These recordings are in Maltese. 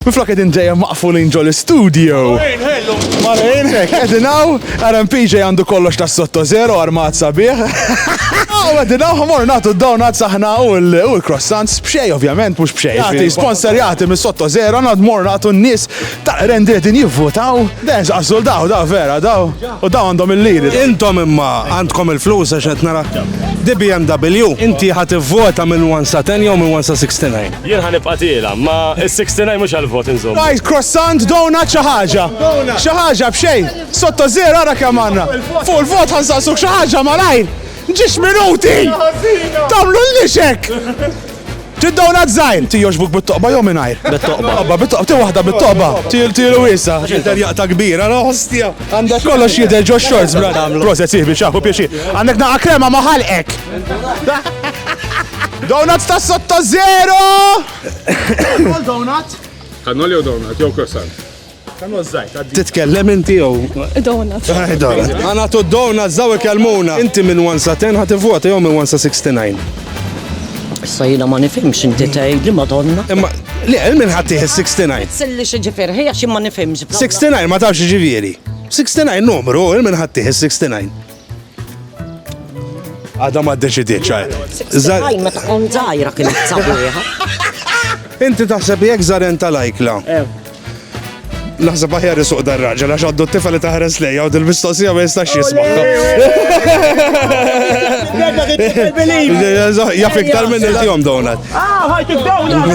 Minflok qegħdin dejjem maqfulin ġol istudju. Malejn, ħellu, malejn. Hekk, qegħdin hawn, RMPJ għandu kollox tas sotto zero, armat sabiħ. Aw, qegħdin hawn ħmor nagħtu d-donuts aħna u l-croissants b'xej ovvjament mhux b'xej. Jagħti sponsorjati mis sotto zero nagħd mor nagħtu n-nies ta' rendi qegħdin jivvutaw. Dejjem żaqqżul daw, daw vera, daw. U daw għandhom il-liri. Intom imma għandkom il-flus għax qed nara. Di BMW, inti ħadd ivvota minn 1 sa 10 jew minn 1 sa 69? Jien ħa nibqa' tiela', ma s-69 mhux għall-vot inżommu. Ngħid croissant, donut xi ħaġa. Xi ħaġa b'xejn. Sotto zero ara kemm għandna. Fuq il-vot ħa nsaqsuk xi ħaġa malajr. Ġiex minuti! Tagħmlullix hekk! Ti donut żgħir, ti jogħġbuk bit-toqba jew mingħajr? Bit-toqba. Toqba bit-toqba, ti waħda bit-toqba. Ti tielu wiesa'. X'inter jaqta' kbira, la ostja. Għandek kollox jidher ġo shorts bla nagħmlu. Proset sieħbi xaħu pieċi. Għandek naqa krema ma ħalqek. Donuts ta' sotto zero! Kol donut? Kannoli u donut, jew croissant. Kanu zzajt, għaddi. Titkellem inti jew? Donut. Għana tu donut, zaw ikellmuna. Inti minn 1 sa 10 ħati vota jew minn 1 sa 69. Issa jina ma nifimx inti tgħid li madonna. Imma li għel minn ħatti 69. Silli xi ġifier ħija xi ma nifimx. 69 ma tafx ġifieri. 69 numru il minn ħatti 69. Għada ma d-deċidiet ċaj. Zaj ma tkun zaħira kien t-sabiħa. Inti taħseb jek zaren tal-ajkla. Eh. Naħseb aħjar isuq dar raġel għax għaddu t-tifa li taħres lejja u dil-mistoqsija ma jistax jismaħħa. Jaf iktar minn il-jom donat. Ah, ħajt il-donat!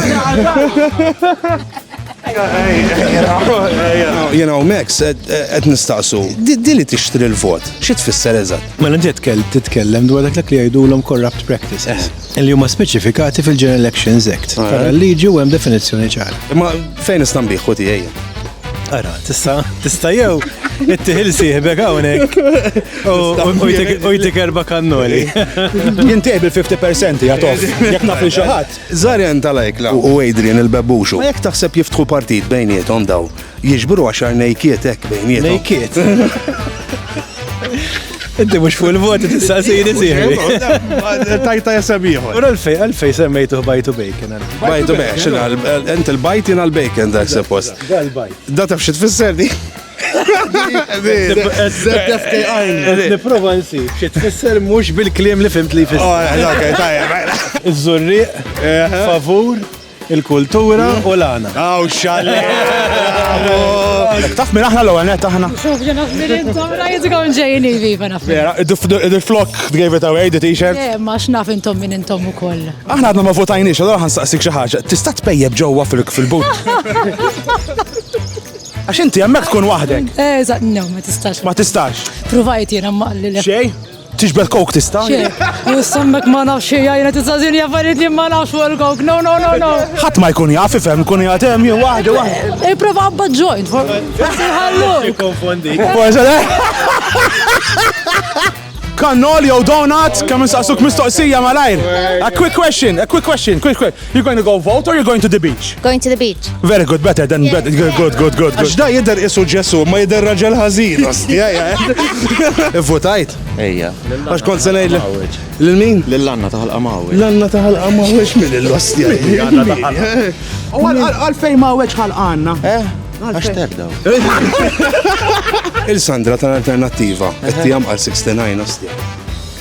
You know, Max, qed nistaqsu, dili tixtri l-vot, xi tfisser eżatt? Mela ġiet kell titkellem dwar dak li jgħidulhom corrupt practices. Eh. li huma speċifikati fil-General Elections Act. Ah. Ara l-liġi u hemm definizzjoni ċara. Imma fejn nista' nbieħ u tiegħi? Ara, tista' tista' jew it-tiħil sieħbek hawnhekk u jtik erba' kannoli. Jintiq bil-50% jagħtof jekk naf li xi ħadd. Żarjan tal-ajkla u Adrian il-bebbuxu. Ma jekk taħseb jiftħu partit bejniethom daw Jiġbru għaxar nejkiet hekk bejniethom. Nejkiet. Inti mhux fuq il-voti tistaqsini sieħbi. Tajta jesem ieħor. Ura l-fej, għalfej semmejtu bajtu bacon. Bajtu bacon, ent il-bajt jina l-bacon dak suppost. Dal-bajt. Da taf xi tfisser di? Niprofa nsi, xi tfisser mhux bil-kliem li fimt li jfisser. Oh, Iż-żurriq, eh. favur. Il-kultura u l-għana. Aw, xalle! Taf minn aħna l-ewwel net aħna. Xuf, ġena f'mirin tomra jizgaw ġejjin viva naf. Vera, il-flok gave it away, the t-shirt. Eh, ma xnaf intom minn intom u koll. Aħna għadna ma votajniex, għadha għan saqsik xaħġa. Tista' tpejjeb ġewwa fil-but. Għax inti hemmhekk tkun waħdek. Eh, no, ma tistax. Ma tistax. Provajt jiena maqli. Xej? Tixbel kok tista? Sammek ma nafx xie jajna t-sazin jaffariet li ma nafx fuq il-kok. No, no, no, no. ħat ma jkun jaf, ifem, jkun jgħatem, jew wahda, wahda. E prova għabba ġojt, forsi ħallu. Konfondi. Kannol jew donut, kemm insaqsuk mistoqsija malajr. A quick question, a quick question, quick question. You're going to go vote or you're going to the beach? Going to the beach. Very good, better than better. Good, good, good, good. Għax da jidher isu Ġesu, ma jidher raġel ħażin. ostja, ja. Ivvotajt? Ejja. Għax kont se ngħid lil min? Lil Anna taħal qamawi. L-għanna taħal qamawiex minn l-ostja. U għalfejn ma weċ ħal għanna. Eh? Għax terdaw. Il-Sandra tal-Alternattiva, qed tijam għal 69 ostja.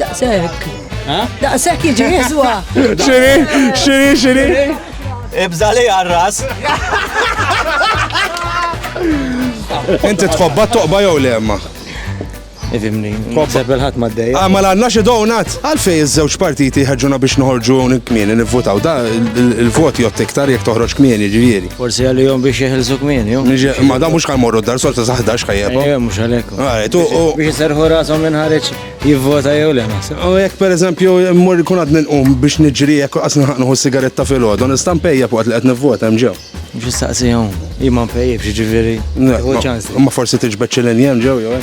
Daqshekk. Daqshekk jiġi jiswa. Xiri, xiri, xiri. Ibża li għarras. Inti tħobba toqba jew le ma. Ifimni, nħobbeb il-ħat ma d-dej. Ah, ma l-għanna xie donat. Għalfej iż-żewġ partiti ħagġuna biex nħorġu kmieni nivvotaw. Da il-voti jott iktar jek toħroġ kmieni ġivieri. Forsi għalihom biex jeħilsu kmieni. Ma da mhux kan morru dar solta sa 11 ħajjeb. Eh, mhux għalhekk. Biex serħu rashom minn ħareġ jivvota jew le naħseb. U jekk pereżempju mmur ikun għad ninqum biex niġri jekk qas nħaqnu sigaretta fil-għodu, nista' mpejja fuq li qed nivvota hemm ġew. Biex saqsihom, jimma mpejjeb jiġifieri. Ma forsi tiġbed xi linjem ġew jew